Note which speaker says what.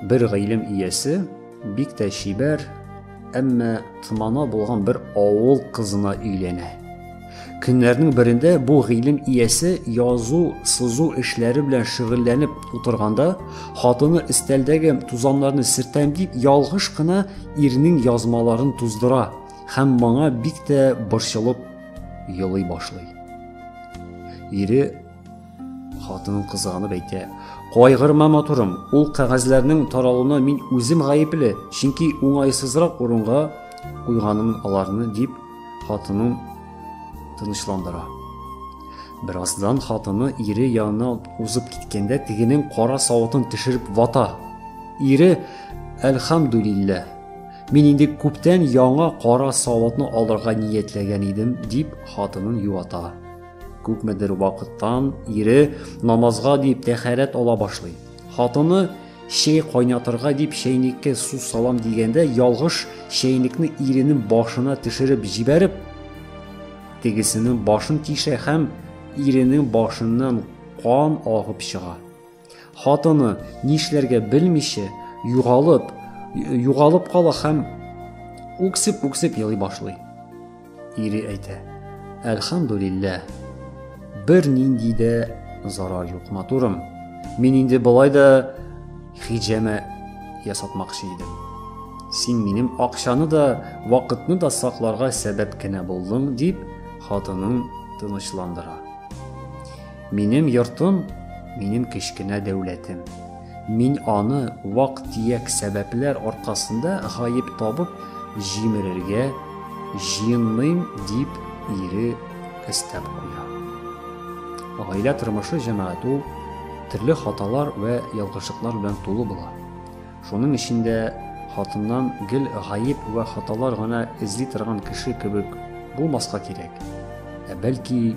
Speaker 1: Бер гыйлем иясе бик тә чибәр, әмма тмана булган бер авыл кызына өйләнә. Көннәрнең берендә бу гыйлем иясе язу, сызу эшләре белән шөгыльләнеп утырганда, хатыны өстәлдәге тузаннарны сертәм дип ялгыш кына ирнең язмаларын туздыра һәм моңа бик тә борчылып елый башлый. Ире хатынын кызганып әйтә. Кайгырма матурым, ул кәгазьләрнең таралуына мин үзем гаепле, чөнки уңайсызрак урынга куйганым аларны дип хатынын тынычландыра. Бераздан хатыны ире янына узып киткәндә тегенең кара савытын төшереп вата. Ире, әлхамдулиллә, Мин инде күптән яңа кара савытны алырга ниятләгән идем, дип хатынын юата. Күпмедер вакыттан ире намазга дип тәхәрәт ала башлый. Хатыны чәй кайнатырга дип чәйнеккә су салам дигәндә ялгыш чәйнекне иренең башына төшереп җибәреп, тегесенең башын тишә һәм иренең башыннан кан агып чыга. Хатыны, нишләргә белмичә, югалып, югалып кала һәм үксеп-үксеп елый башлый. Ире әйтә, Әлхамдулилла, бер нинди дә зарар юк, матурым. Мин инде былай да хиҗәмә ясатмакчы идем. Син минем акчаны да, вакытны да сакларга сәбәп кенә булдың, дип, хатынын тынычландыра. Минем йортым, минем кечкенә дәүләтем. Мин аны вак-төяк сәбәпләр аркасында гаеп табып җимерергә җыенмыйм, дип ире өстәп куя. Гаилә тормышы җәмәгать ул төрле хаталар вә ялгышлыклар белән тулы була. Шуның өчен дә хатыннан гел гаеп вә хаталар гына эзли торган кеше кебек булмаска кирәк, ә бәлки